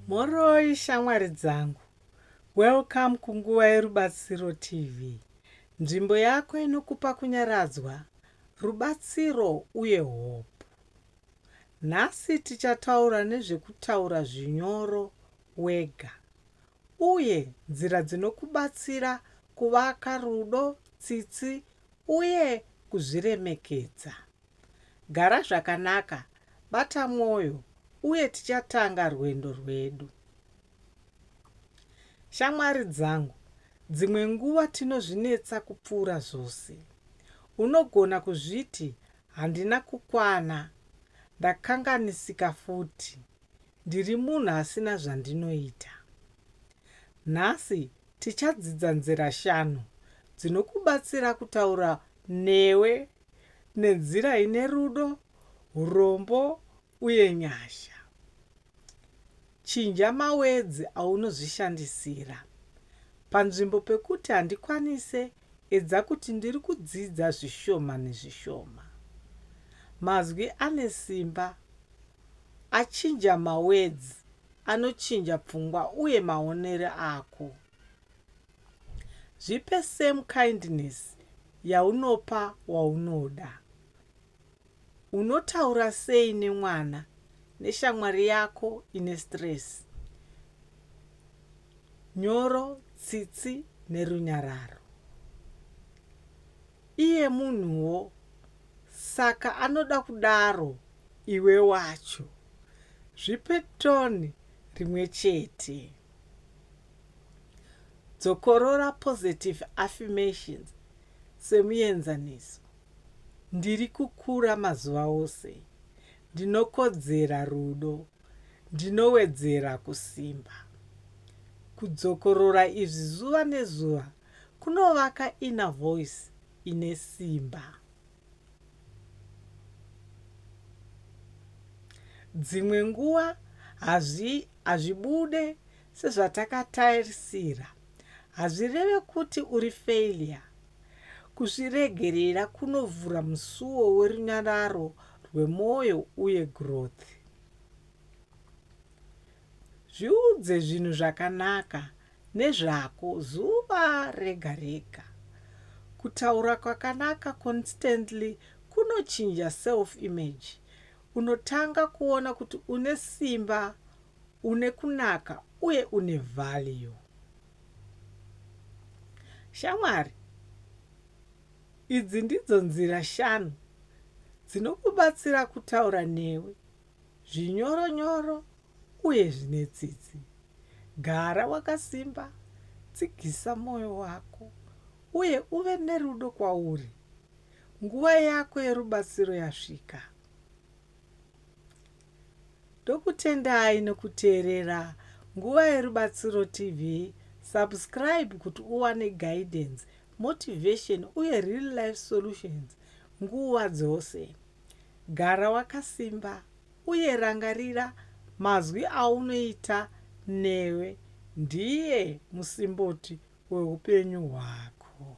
Mhoroi shamwari dzangu. Welcome kunguva yerubatsiro TV. Nzvimbo yako inokupa kunyaradzwa, rubatsiro uye hope. Nhasi tichataura nezvekutaura zvinyoro wega uye nzira dzinokubatsira kuvaka rudo, tsitsi uye kuzviremekedza. Gara zvakanaka, bata mwoyo, uye tichatanga rwendo rwedu. Shamwari dzangu, dzimwe nguva tinozvinetsa kupfuura zvose. Unogona kuzviti, Handina kukwana. Ndakanganisika futi. Ndiri munhu asina zvandinoita. Nhasi tichadzidza nzira shanu dzinokubatsira kutaura newe nenzira ine rudo, urombo, uye nyasha. Chinja mawedzi aunozvishandisira. Panzvimbo pekuti handikwanise, edza kuti ndiri kudzidza zvishoma nezvishoma. Mazwi ane simba achinja mawedzi anochinja pfungwa uye maonero ako. Zvipe same kindness yaunopa waunoda. Unotaura sei nemwana neshamwari yako ine stress? Nyoro, tsitsi nerunyararo. Iye munhuwo saka anoda kudaro iwe wacho. Zvipe tone rimwe chete. Dzokorora positive affirmations semuenzaniso, Ndiri kukura mazuva ose. Ndinokodzera rudo. Ndinowedzera kusimba. Kudzokorora izvi zuva nezuva kunovaka inner voice ine simba. Dzimwe nguva Hazvibude sezvatakatarisira hazvireve kuti uri failure. Kuzviregerera kunovhura musuwo werunyararo rwemoyo uye growth. Zviudze zvinhu zvakanaka nezvako zuva rega rega. Kutaura kwakanaka constantly kunochinja self image Unotanga kuona kuti une simba, une kunaka uye une value. Shamwari idzi ndidzo nzira shanu dzinokubatsira kutaura newe zvinyoro nyoro uye zvine tsitsi. Gara wakasimba, tsigisa moyo wako uye uve nerudo kwauri. Nguva yako yerubatsiro yasvika. Ndokutendai nekuteerera Nguva Yerubatsiro TV. Subscribe kuti uwane guidance, motivation uye real life solutions nguva dzose. Gara wakasimba uye rangarira mazwi aunoita newe ndiye musimboti weupenyu hwako.